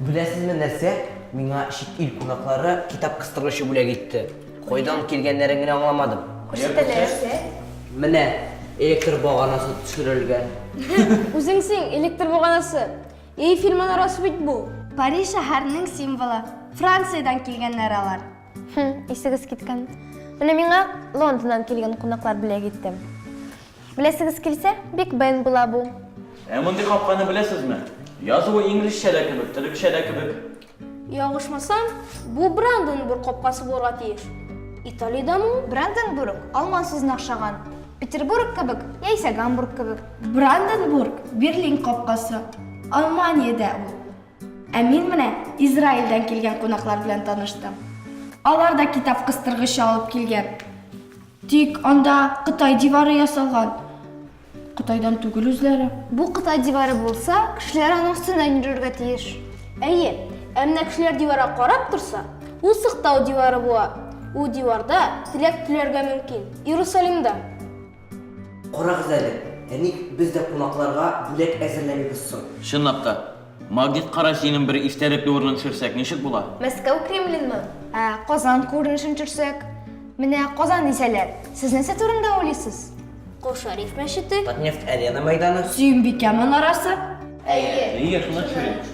Беләсезме нәрсә? Миңа чит ил кунаклары китап кыстыргычы бүләк итте. Кайдан килгәннәрен генә аңламадым. Күрсәтәләрсә? Менә электр баганасы төшерелгән. Үзеңсең электр баганасы. Эйфель манарасы бит бу. Париж шәһәренең символы. Франциядән килгәннәр алар. Хм, исегез киткән. Менә миңа Лондоннан килгән кунаклар бүләк итте. Беләсегез килсә, Биг Бен була бу. Ә мондый капканы беләсезме? Язуы инглизчә дә кебек, төрекчә дә кебек. Ялгышмасам, бу Бранденбург капкасы булырга тиеш. Италиядәме ул? Бранденбург алман сүзенә охшаган. Петербург кебек, яисә Гамбург кебек. Бранденбург, Берлин капкасы. Алманиядә ул. Ә мин менә Израильдән килгән кунаклар белән таныштым. Алар да китап кыстыргычы алып килгән. Тик анда Кытай дивары ясалган. Кытайдан түгел үзләре. Бу Кытай дивары булса, кешеләр аның өстеннән йөрергә тиеш. Әйе, ә менә кешеләр диварга карап торса, ул сыктау дивары була. Ул диварда теләк теләргә мөмкин. Иерусалимда. Карагыз әле, ә ник без дә кунакларга бүләк әзерләмибез соң? Чынлап та. Магнит кара синең бер истәлекле урының төшерсәк ничек була? Мәскәү Кремленмы? Ә Казан күренешен төшерсәк? Менә Казан дисәләр, сез нәрсә турында уйлыйсыз? Кол Шәриф мәчете. Татнефть Арена мәйданы. Сөембикә манарасы. Әйе. Әйе, шунда төшерик.